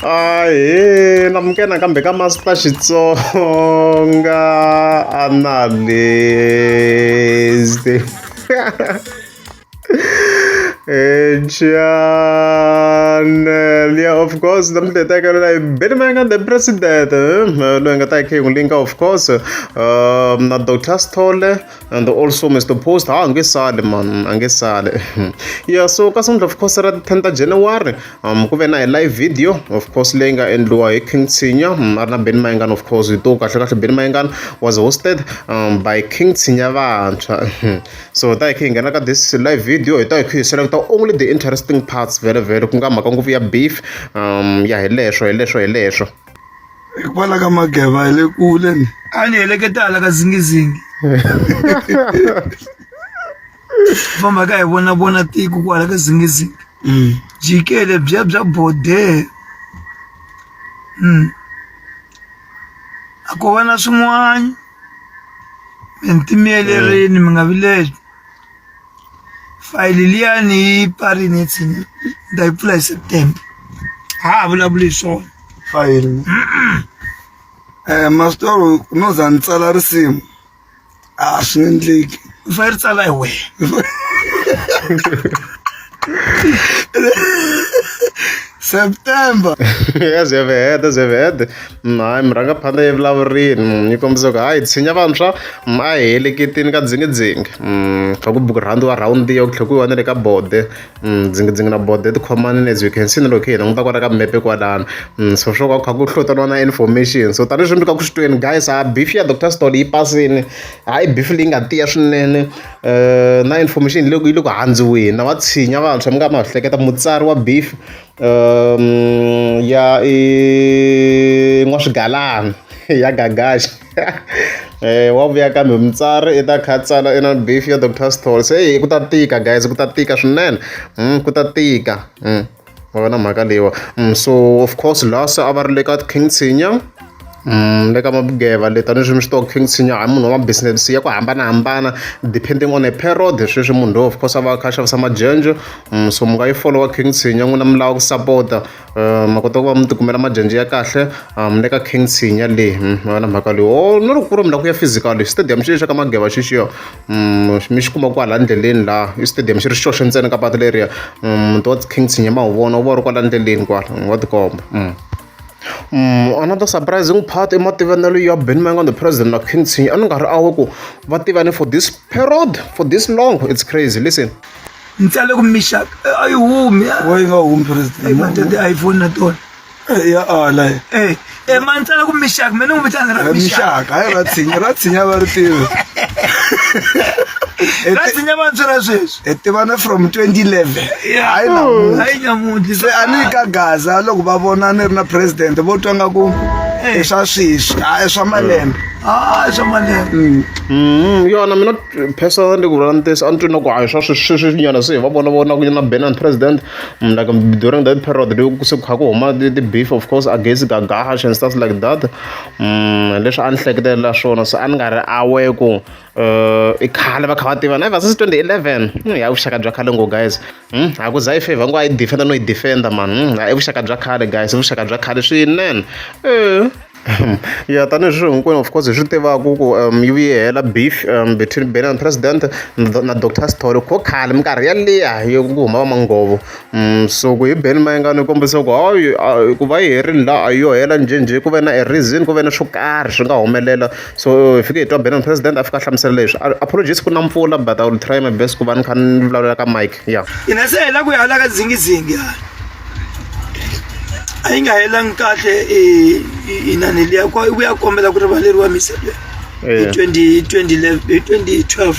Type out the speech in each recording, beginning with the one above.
Ahee amukela nakambe ka Master Xitsonga Analyst eh, channel yeah of course na mitetekelo leyi beni manga the president eh, loyi nga ta yi khengulika of course um, na Dr Stole and also mr post ha nge sali man a nge sali yeah so ka sungula of course ra 10 ta january um ku ve na hi live video of course leyi nga endliwa hi king tsinya um, a ri na ben mayengana of course hi to kahle kahle ben mayengana was hosted um, by king tsinya vantshwa so ta hi khe hi nghena ka this live video hi ta hi khe hi selekta only the interesting parts vele vele ku nga mhaka ngopfu ya beef um ya hi leswo hi leswo hi leswo hikwalaho ka mageva hi le kule ni a ni heleketa hala ka zingizingi famba ka hi vona vona tiko kwala ka zingizingi mm. jikele bya bya bode mm. a ko va na swin'wana mi ntimiyelerini mi nga vileli fayili liya ni yi parini tsini ni ta yi pfula hi september ha ha vulavuli hi swona fayili um masitoro no za ni tsala risimu a swi endleki u fanele ri tsala hi wena september ya ze ve heta ze ve heta hayi mi rhanga phanda evulavurini mm, yi kombisa ku hayi tshinya vantshwa mm, a hi heleketini ka dzingidzingi mm, kha ku buku rhandi wa rhawundi yo ku tlhe ku yiwa na le ka bode dzingidzingi na bode ti khomanini as you can see na loko hi languta kwala ka mepe kwalano so swo ka kha ku hlotaniwa na information so tanihi swi mbika ku xitweni guys a beef ya doctor stol yi pasini hayi beef leyi nga tiya swinene na information leyi yi le ku handziweni na va tshinya vantshwa mi nga ma swi hleketa mutsari wa beef ya i n'waswigalana ya gagaxa wa vuya kambe mutsari i ta kha tsala i na beef ya doctor stall se hi ku ta tika guys ku ta tika swinene ku ta tika. ma va na mhaka leyiwa mm, so of course lasa a va ri le ka king tshinya Mm, le ka mabugeva le tanihileswi mi swi tiva king tshinya hayi munhu wa mabusiness ya ku hambanahambana depending on a period sweswi munhu loyi of course a va a kha a xavisa majenjo mm, so mi nga yi followa king tshinya n'wina mi lava ku sapota um eh, ma kota ku va mi tikumela majenjo ya kahle um le ka king tshinya leyi mm, mi va na mhaka leyi o oh, no loko ku ri mi lava ku ya physical stadium xi xa ka mageva xixiyo mi xi kuma kwala ndleleni laha i stadium xi ri xoxe ntsena ka patu leriya muti wa king tshinye ma wu vona wu va ri kwala ndleleni kwala wa tikomba another surprising part i mativanelo ya ben manga the president na king tshinye a ni nga ri awe ku va tivane for this period for this long it's crazy listen ni tsale ku mixaka a yi humi yi nga humi president matete iphone na tona ya ala Eh, eh man tsala ku mixaka mina n'wi vitana ra mixaka mixaka hayi ra tshinya ra tshinya va ri tivi Eh, ra ti- tsinya vantshwa ra sweswi hi tivana from 2011 hayi namuntlha hayi nyamuntlha se a ni yi ka gaza loko va vona ni ri na president vo twa nga ku i swa sweswi a i swa malembe ah swa malembe Mm, yona mina personally ku vula ntiyiso a ni twi na ku hayi swa sweswinyana se hi va vona vona ku na benin president I'm like during that period loko se kha ku huma ti-beef of course against gagash and stuff like that mm, leswi a ni hleketelela swona so a ni nga ri awe ku uh, i khale va kha va tivana ever since 2011 hmm, ya vuxaka bya khale ngo guys hmm, a ku za yi favor ngo a yi defenda no yi defenda mani hmm, i vuxaka bya khale guys i vuxaka bya khale swinene eh. ya tanihi sweswi hinkwenu of course hi swi tivaka ku yi vuye yi hela beef between Benni and president na doctor Sithole ko khale minkarhi yaliya ya ku huma va Manghovo so ku hi Benni Mayengani yi kombisa ku hayi ku va yi herile la a yo hela njhenjhe ku ve na a reason ku ve na swo karhi swi nga humelela so hi fike hi twa Benni and president a fika a hlamusela leswi apologies ku na mpfula but I will try my best ku va ni kha ni vulavula ka mic. ya hina se hela ku ya hala ka dzingizingi hala a yi nga helangi kahle inani liya ku ya kombela ku rivaleriwa misebe hi 2012 2012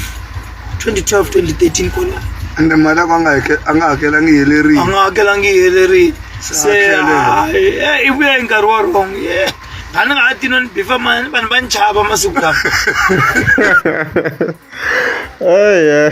2013 kona ende mali ako a nga hakelangi helerile a nga hakelangi helerile se i vuya hi nkarhi wa wrong yeah a ni nga ha tino ni bifa mani vanhu va ni chava masiku lawa Ej,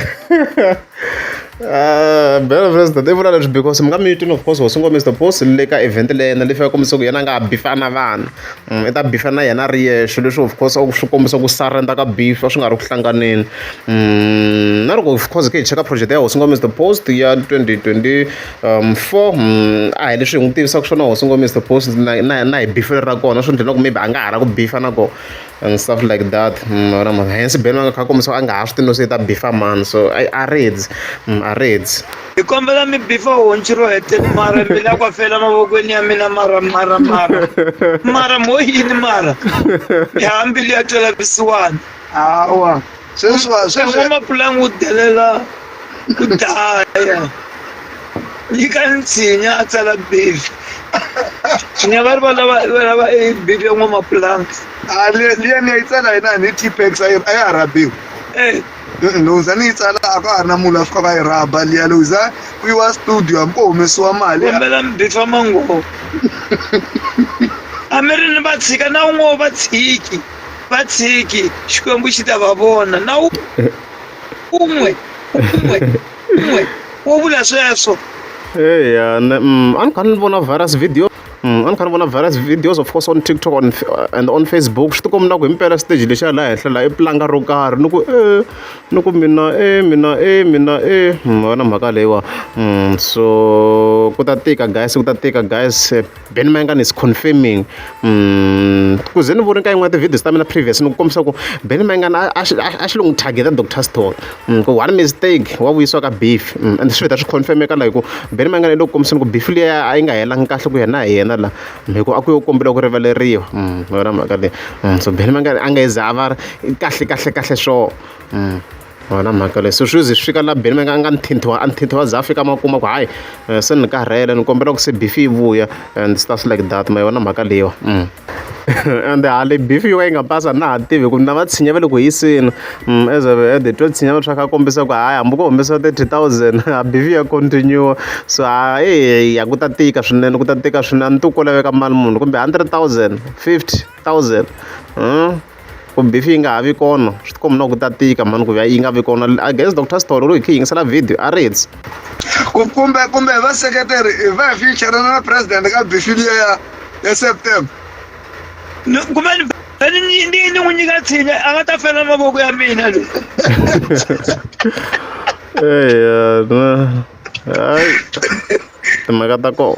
Uh, bela vest i vula leswi because mi nga mi twini of course hosi ngo mr boss le ka event le yena leswi ya kombisa ku yena a nga ha bifana vana mm, i ta bifana yena ri yexe leswi of course swi kombisa ku surrender ka bifa swi nga ri ku hlanganeni mm, na loko of course ke hi cheka project ya hosi ngo mr post ya 2024 um, mm, a hi leswi hi n'wi tivisaka swona hosi ngo mr post na hi bifelo ra kona swi ndlela ku maybe a nga ha ra ku bifa na kona and stuff like that mara mara hence Ben a nga kha kombisa a nga ha swi tivi no se i ta bifa mani so a a reds mm, a reds hi kombela mi bifa honci ro heteni mara mi la ku fela mavokweni ya mina mara mara mara mara mo yini mara hi hambili ya twela visiwani hawa sweswi va sweswi van'wamapulanga u delela ku daya nyika nsinya a tsala bibi nsinya va ri va lava va lava e bibi ya n'wamapulanga a le liya ni ya yi tsala yena ni T-Pex a yi a ya ha rabiwi Eh, Mm, loko za ni yi tsala a ka ha ri na munhu a fika va yi rhaba liya loko za ku yiwa studio hambi ko humesiwa mali kombela mbifa mangovo a mi ri ni vatshika na un'we wa vatshiki va tshiki xikwembu xi ta va vona na wu un'we un'we un'we wo vula sweswo eya mm, a ni kha ni vona virus video mm, a ni kha ni vona virus videos of course on tiktok on, uh, and on facebook swi tikombi na ku himpela stage lexiya laha henhla laha i pulanga ro karhi ni ku e ni ku mina e mina e mina e mm, vona mhaka leyiwa so ku ta tika guys ku ta tika guys Then Maingani is confirming mm, ku ze ni vone ka yin'wana ti-videos ta mina previous ni ku kombisa ku Benny Maingani a a xi a- a xi lo n'wi targeta Dr Stone Mm, ku one mistake wa vuyisiwa ka beef Mm, and swi vheta swi confirmeka la hi ku Benny Maingani i lo ku kombiseni ku beef liya a yi nga helangi kahle ku yena hi yena la Mm, hi ku a ku yo kombela ku rivaleriwa Mm, hi yona mhaka leyi Mm, so Benny Maingani a nga yi za a va ri kahle kahle kahle sure Mm. A hi na mhaka leyi, se sweswi swi fika laha Benny va nga a nga ni thintiwa a ni thintiwa a za a fika a ma kuma ku hayi se ni karhele ni kombela ku se beef yi vuya and stuff like that ma yi vona mhaka leyiwa ende ha leyi beef yo ka yi nga basa a na ha tivi ku na va tshinyi va le ku hiseni as a as they twa tshinyi va swa kha kombisa ku hayi hambi ko humesiwa thirty thousand a beef ya continue-wa so ha eyi ya ku ta tika swinene ku ta tika swinene a ni tivi ku ko laveka mali muni kumbe hundred thousand, fifty thousand . Ku beef yi nga ha vi kona swi tikomba na ku ta tika mhani ku ya yi nga vi kona I guess Doctor Sithole loko hi kha hi yingisela video a ri hetsi Ku- kumbe kumbe hi vaseketeri hi va hi future na president ka bifi liya ya ya september Ni- kumbe ni fe- ni ni- ni- ni n'wi nyika tshinya a nga ta fela mavoko ya mina loyi eya na hayi timhaka ta kona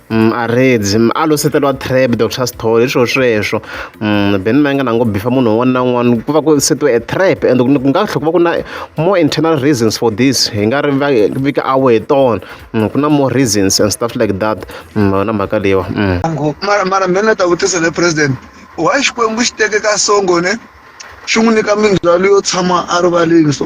Mm, a redzi mm, a loseteriwa trap doctor story swo sweswo mm, ben ma nga na ngo bifa munhu un'wana na un'wana ku va ku setiwe a trap and ku nga tlhe ku va ku na more internal reasons for this hi nga ri vika awe hi tona ku na more reasons and stuff like that na mhaka leyiwa mara mara ben a ta vutisa le president why xikwembu xi teke ka songo ne xi n'wi nyika mindzwalo yo tshama a rivaleni so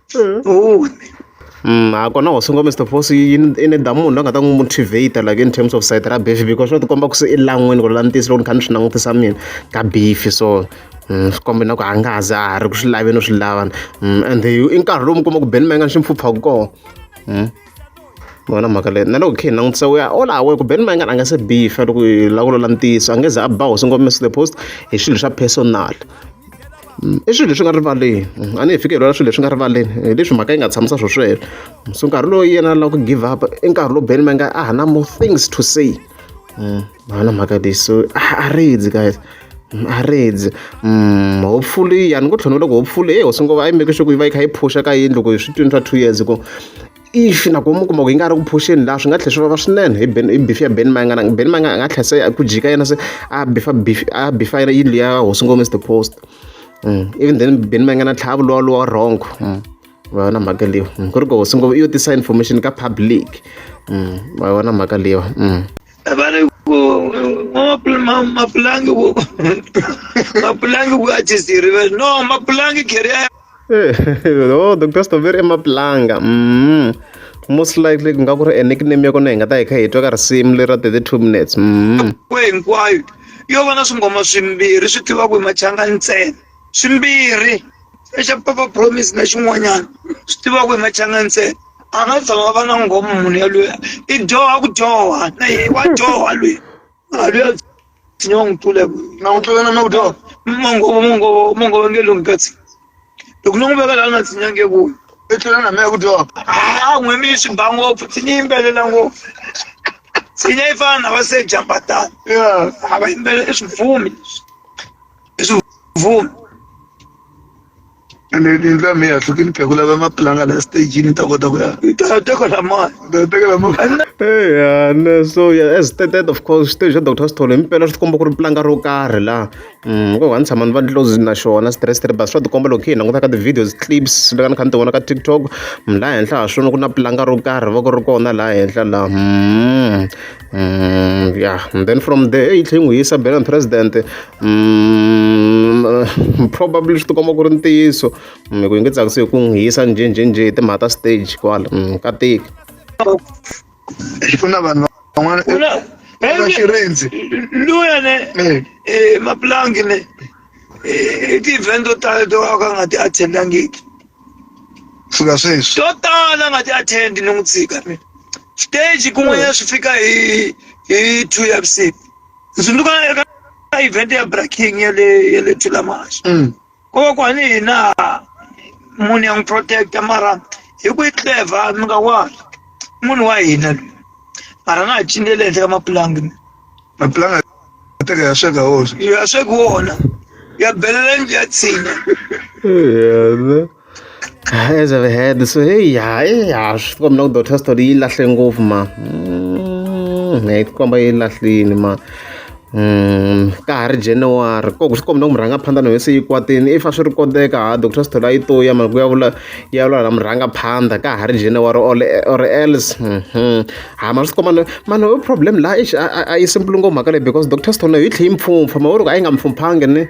Oh. Mm, a kona wa sunga Mr Force yi i ni damu munhu la nga ta n'wi motivate like in terms of side ra beef because swo tikomba ku se i lan'wini ku ri la ni tiyisi loko ni kha ni swi langutisa mina ka beef so mm, swi kombe na ku a nga za a ri ku swi laveni u swi lavana mm, and i nkarhi lowu mi kuma ku beni ma nga ni xi mpfhuphaka kona mm. ni vona mhaka leyi na loko hi kha hi langutisa we are all aware ku Ben Mayengani a nga se bifa loko hi lava ku lula ntiyiso a nge ze a ba hosi ngombe the post hi swilo swa personal i swilo leswi nga rivaleni a ni hi fike hi lwela swilo leswi nga rivaleni hi leswi mhaka yi nga tshamisa swo sweswo so nkarhi lowu yena lava ku give up i nkarhi lowu Ben Mayengani a ha na more things to say a na mhaka leyi so a ridzi guys Marriage hopefully ya ni ngo tlhela ni vula ku hopefully heyi hosi ngo va yi make sure ku yi va yi kha yi phusha ka yindlu ku hi swi twini swa two years ku if na ku mi kuma ku yi nga ri ku phuxeni laha swi nga tlhela swi vava swinene hi ben hi beef ya ben mayanga na ben mayanga a nga tlhela se ku jika yena se a bifa beef a bifa yena yindlu ya hosi ngo mr post even then ben mayanga na tlhava luwa luwa wrong va yona mhaka leyiwa ku ri ku hosi ngo yo tisa information ka public va yona mhaka leyiwa abana mapulangi mapulangi ku achisiri no mapulangi keria eh, oh dr stoveri emaplanga mm. most likely ku nga ku ri a nickname ya kona hi nga ta hi kha hi twa ka risimu leri ra 32 minutes mm. hinkwayo yo va na swingoma swimbirhi swi tivaku hi machanga ntsena swimbirhi xa papa promise na xin'wanyana swi tiva ku hi machanga ntsena a nga tshama va na ngoma munhu yaloyi i dyoha ku dyoha na ye wa dyoha loyi a loyi a tshinya wa n'wi tlula na n'wi tlula na na ku dyoha mangovo mangovo mangovo nge lomu katsi loko no n'wi veka laha na tshinya nge ku i tlula na mehe ku dyoha a n'we mi swi ba ngopfu tshinya yimbelela ngopfu tshinya yi fana na va se jambatana a va yimbelela i swibvumi leswi leswi mvumo ene yindlu ya mehe ya hlukini khe ku lava mapulanga la stagini ta kota ku ya ta teka la mali ta teka la mali eya ne so yeah, as stated of course xiteji xa dr sithole impela swi tikomba ku ri pulanga ro karhi laha um ko va ni tshama ni va ni close na xona stressed bas swa tikomba loko hi languta ka ti-videos clips leka ni kha ni ti vona ka tiktok laha henhla ha swona ku na pulanga ro karhi va ku ri kona laha henhla laha Mm, yeah, and then from there yi tlhe n'wi yisa Belan president mm, probably swi tikomba ku ri ntiyiso mm, ku yi nge tsakisi hi ku n'wi yisa njhenjhenjhe hi timhaka ta stage kwala mm, ka tiki ku na vanhu van'wana va xirindzi luya ne mapulangi ne i ti-event to tala to ka nga ti attendangiki fika sweswi to tala nga ti attend ni n'wi tshika mina stage kun'wanyana swi fika hi hi two ya vusiku ni tsundzuka eka event ya braking ya le ya le thulamaxa Mm. ko va ku hani hina munhu ya n'wi protecta mara hi ku yi clever mi nga wani munhu wa hina loyi mara nga ha cinele henhla ka mapulangi maplanga teka ya sweka hosi ya sweka wona ya belela nje ya tshinya yena as i've had so hey ya ya swi komba na ku doctor story yi lahle ngopfu ma mm, yi komba yi lahlini ma Mm, ka ha ri january koko swi komba na ku murhanga phanda na wese yi kwatini if a swi ri koteka ha doctor sithole a yi to ya mali ku ya vula ya vula na murhanga phanda ka ha ri january or, or else mm -hmm. ha ma swi kuma no mani ho problem la eish a a- a yi simple ngopfu mhaka leyi because doctor stone yi tlhe yi mpfumpfa ma vuri ku a yi nga mpfumphanga ni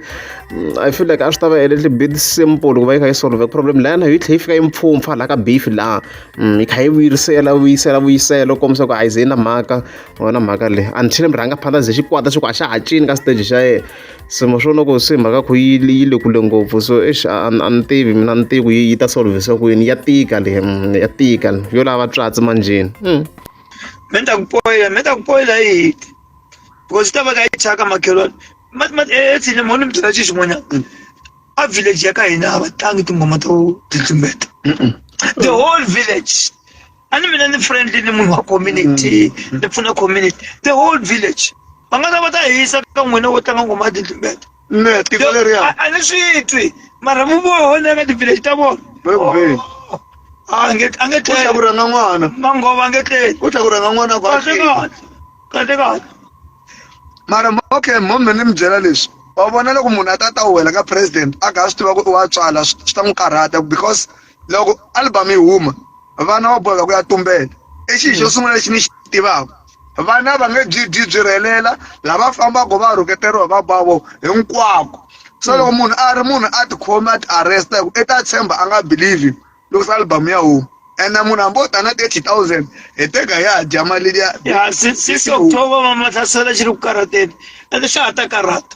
mm, i feel like a swi ta va a little bit simple ku va yi kha yi solve problem la yona yi tlhe yi fika yi mpfumpfa la ka beef la Mm, yi kha yi vuyisela vuyisela vuyisela u kombisa ku a yi ze yi na mhaka wona mhaka leyi until mi rhanga phanda ze xikwata xi ku a xa ha cini ka stage xa yena se ma swi vona ku se mhaka ya ku yi yi le kule ngopfu so exi a a ni tivi mina a ni tivi ku yi yi ta solve-sa ku yini ya tika le ya tika le yo lava tswatsi manjheni me ni ta ku poyila me ni ta ku poyila hi hiti because yi ta va ka yi thyaka makhelwani etsini mo ni mi byela xi xin'wanyana a village ya ka hina a va tlangi tinghoma to titlimbeta the whole village a ni mina ni friendly ni munhu wa community mm. ni pfuna community the whole village va nga ta va ta hisa ka n'wina wo tlanga ngoma ya tintlumbeta ne tiko leriya a ni swi twi mara mu vona ka ti-village ta vona a nge a nge tleli ku rhanga n'wana mangova a nge tleli u tlhela ku rhanga n'wana kahle kahle kahle kahle mara okay mhombe ni mi byela leswi wa vona loko munhu a ta ta wela ka president a kha a swi tiva ku i wa tswala swi ta n'wi karhata because loko album yi huma vana va boheka ku ya tumbela i xilo xo mm. sungula lexi ni xi tivaka vana va nge byi byi byi rhelela lava fambaka va rhuketeriwa va bavo hinkwako so mm. loko munhu a ri munhu a tikhome a ti arresta hi ku i ta tshemba a nga believe loko se album ya huma ene munhu hambi o ta na thirty thousand hi teka ya dya mali liya ya six october va mahlasela xi ri ku karhateni ende xa ha ta karhata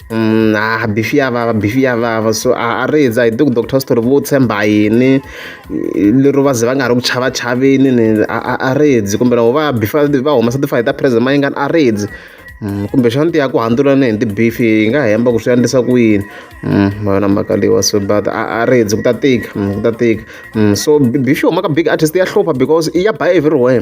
Mm, ah bifi yavava bifi yavava so a a ri za hi tiku doctor story vo tshemba yini i- lero va ze va nga ri ku chava chaveni ni a a- a ri dzi kumbe loko va bifi va humesa tifayi ta president ma yingani a ri dzi Mm, kumbe xana tiya ku handzula ni hi tibifi yi nga hemba ku swi endlisa ku yini Mm, ma yona mhaka leyiwa so but a a ri dzi ku ta tika mm, ku ta tika Mm, so bi- bifi yi humaka big artist ya hlupha because i ya ba everywhere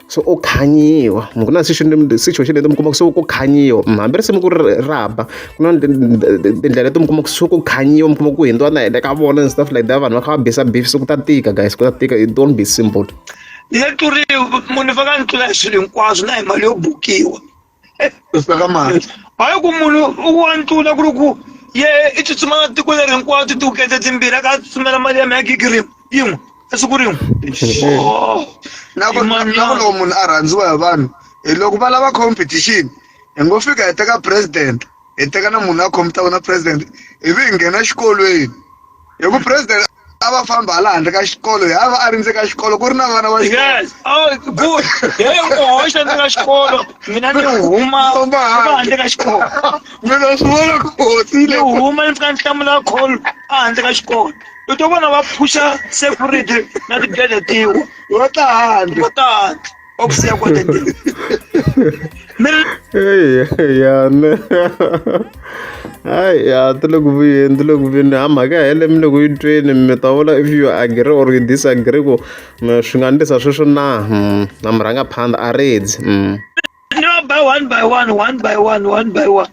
se u khanyiwa ku na situation leti mi kuma ku se ku khanyiwa hambi risimu ku ri ra ba ku na tindlela leti mi kuma ku se ku khanyiwa mi kuma ku hindziwa na hende ka vona and stuff like that vanhu va kha va bisa beef se ku ta tika guys ku ta tika it don't be simple ni nga tluriwi munhu ni faka ni tlula hi swilo hinkwaswo na hi mali yo bukiwa hayi ku munhu u wa ntula ku ri ku ye i tsutsuma na tiko leri hinkwawo ti tiwukete timbirhi a ka a tsutsumela mali ya mi ya gigi rin'we yin'we esiku rin'we na ku loko munhu a rhandziwa hi vanhu hi loko va lava competition hi ngo fika hi teka president hi teka na munhu a khompyuta vona president ivi hi nghena xikolweni hi ku president a va famba hala handle ka xikolo hi a va a rindze ka xikolo ku ri na vana va yes oh good he u hoxa ndzi ka xikolo mina ni huma Huma handle. handle ka xikolo mina swi vona ku ni hoxile huma ni fika ni hlamula call a handle ka xikolo u to vona va phusha security na tigede tiwa va ta handle va ta Qual que seria o content dele? ya ne ai ya ti le ku vuyeni ti le ku vuyeni ha mhaka ya hele mi le ku yi tweni mi ta vula if you agree or you disagree ku swi nga ndlisa sweswo na hmm, na mi rhanga phanda a redzi hmm. ni va by one by one one by one one by one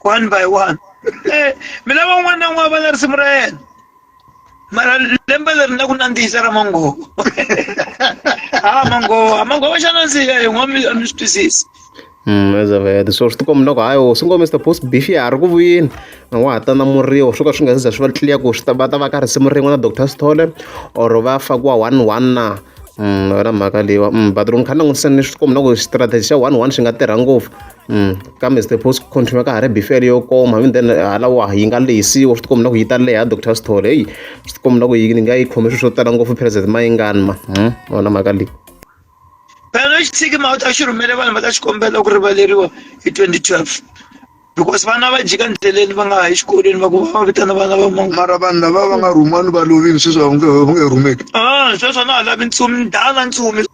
one by one Eh, mi lava un'wana na un'wana va na risimu ra yena mara lembe leri na ku nandzihisa ra mangovo a mangovo a mangovo xa nandziha hi n'wa mi a mi swi twisisi Mm, as I've heard. so swi tikomba loko hayi wo swi ngo mr post beef ya ha ri ku vuyini a ngo ha ta na muriwo swo ka swi nga se za swi va clear ku swi ta va ta va ka risimu rin'we na dr stole or va fakiwa one one na Mm, yona mhaka leyiwa Mm, but loko ni kha ni langutisa ni swi tikomba loko strategy xa one one xi nga tirha ngopfu kambe stethosco continue ka ha ri bifele yo koma ivi then halawa yi nga lehisiwa swi tikombi na ku yi ta leha doctor sithole heyi swi tikombi na ku yi ni nga yi khome swilo swo tala ngopfu president mayingani ma hmm? vona mhaka leyi phela xi tshiki ma u ta xi rhumele vanhu va ta xi kombela ku rivaleriwa hi 2012 because vana va jika ndleleni va nga ha exikolweni va ku va vitana vana va mangu mara vanhu lava va nga rhumani va lovini sweswi va nge rhumeki a ah, sweswo na ha lavi ntsumi ndala ntsumi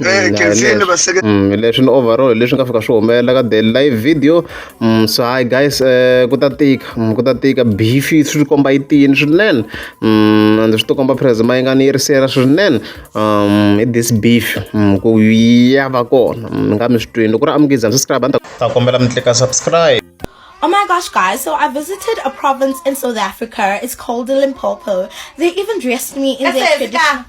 Eh, mm, leswi ni overall leswi nga fika swi humelela ka the live video mm, so hi guys eh, ku ta tika mm, ku ta tika beef swi komba yi tiyini swinene and swi tikomba presma yi nga ni yirisela swinene um hi this beef ku ya va kona mi nga mi swi twini loko ri amukizam subscribe a ta kombela mi tlika subscribe Oh my gosh, guys. So I visited a province in South Africa. It's called Limpopo. They even dressed me in their traditional...